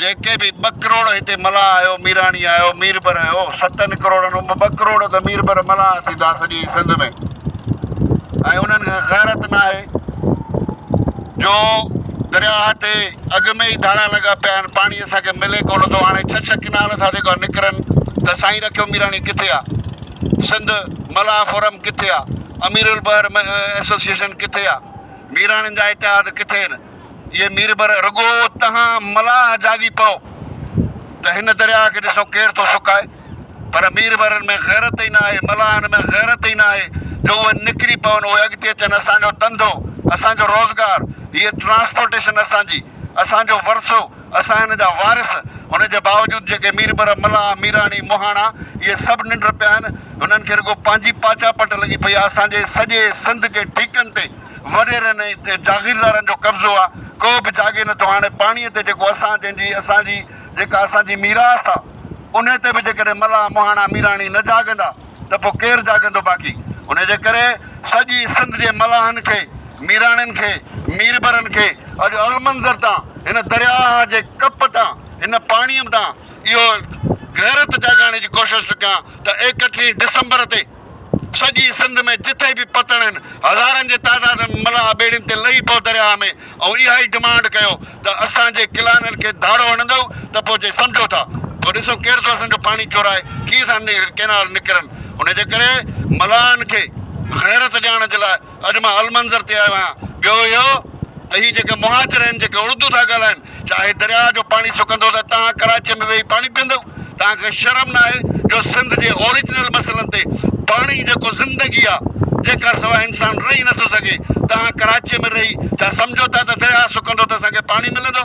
جيڪي به ٻه ڪروڙ هتي ملاح آيو، ميراڻي آيو، ميربر آيو، ستن ڪروڙن مان ٻه ڪروڙ ته ميربر ملاح ٿيندا سڄي سنڌ ۾ ۽ انهن کي غيرت ناهي جو درياهه تي اڳ ۾ ئي ڌاڙا لڳا پيا آهن پاڻي اسان کي ملي ڪونه ٿو هاڻي ڇهه ڇهه ڪنال ٿا جيڪا نڪرن ته سائين رکيو ميراڻي ڪٿي آهي سنڌ ملاح فورم ڪٿي آهي امير البحر ايسوسيئيشن ڪٿي آهي ميراڻين جا اتحاد ڪٿي آهن اي ميربر رڳو تهان ملاح جاڳي پئو ته هن درياهه کي ڏسو ڪير ٿو سڪائي پر ميربرن ۾ غيرت ئي نه آهي ملاحن ۾ غيرت ئي نه آهي جو اهي نڪري پون اهي اڳتي اچن اسان جو ڌنڌو اسان جو روزگار هيء ٽرانسپورٽيشن اسان جي اسان جو ورثو اسان هن جا وارث ان جي باوجود جيڪي ميربر ملاح ميراڻي مهاڻا اهي سڀ ننڊ پيا آهن هنن کي رڳو پنهنجي پاڇا پٽ لڳي پئي آهي اسان جي سڄي سنڌ جي ٺيڪن تي وڏيرن ۽ جاگيردارن جو قبضو آ، ڪو به جاڳي نٿو هاڻي پاڻيء تي جيڪو اسان جنهن جي اسان جي جيڪا اسان جي ميراث آ انهي تي به جيڪڏهن ملاح مهاڻا ميراڻي نه جاڳندا ته پو ڪير جاڳندو باقي انهي جي ڪري سڄي سنڌ جي ملاحن کي ميراڻين کي ميربرن کي اڄ المنظر تان هن درياهه جي ڪپ تان هن پاڻيء تان اهو غيرت جاڳائڻ جي ڪوشش ٿو ڪيان ته ايڪٽيهين ڊسمبر تي سڄي سنڌ ۾ جتي به پتڻ آهن، هزارن جي تعداد ۾ ملاح ٻيڙين تي لهي پئو درياهه ۾ ۽ اها ئي ڊمانڊ ڪيو ته اسان جي ڪلانن کي ڌاڙو هڻندؤ ته پوء جي سمجهو ٿا پوء ڏسون ڪير ٿو اسان جو پاڻي چورائي ڪيئن ٿا ڪئنال نڪرن ان جي ڪري ملاحن کي غيرت ڏيارڻ جي لاء اڄ مان المنظر تي آيو آهيان. ٻيو اهو ته هي جيڪي مهاجر آهن جيڪي اڙدو ٿا ڳالهائن ڇا هي درياهه جو پاڻي سڪندو ته توهان ڪراچيء ۾ ويهي پاڻي پيئندؤ؟ توهان کي شرم نه آهي جو سنڌ جي اوريجنل مسئلن تي پاڻي جيڪو زندگي آ جنهن کان سواء انسان رهي نه ٿو سگهي توهان ڪراچيء ۾ رهي ڇا سمجهو ٿا ته درياهه سڪندو ته اسان کي پاڻي ملندو؟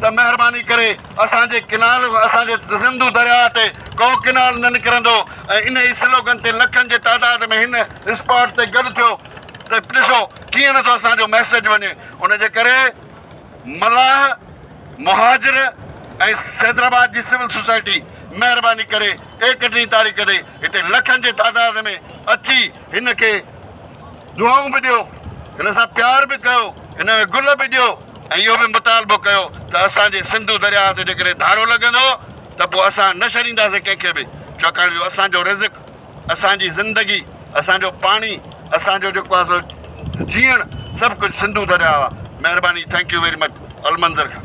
ته مهرباني ڪري اسان جي ڪئنال اسان جي سنڌو درياء تي ڪو ڪئنال نه نڪرندو ۽ انهي سلوگن تي لکن جي تعداد ۾ هن اسپاٽ تي گڏ ٿيو ته ڏسو ڪيئن نٿو اسان جو ميسيج وڃي ان جي ڪري ملاح مهاجر ۽ حيدرآباد جي سول سوسائٽي مهرباني ڪري ايڪٽيهين تاريخ تي هتي لکن جي تعداد ۾ اچي هن کي دعائون به ڏيو هن سان پيار به ڪيو هن ۾ گل به ڏيو ۽ اهو به مطالبو ڪيو ته اسان جي سنڌو درياهه تي جيڪڏهن ڌاڙو لڳندو ته پوء اسان نه ڇڏينداسين ڪنهن کي به ڇاڪاڻ جو اسان جو رزق اسان جي زندگي اسان جو پاڻي اسان جو جيڪو آهي سو جيئڻ سڀ ڪجهه سنڌو درياهه آهي مهرباني thank you very much Almunazar Khan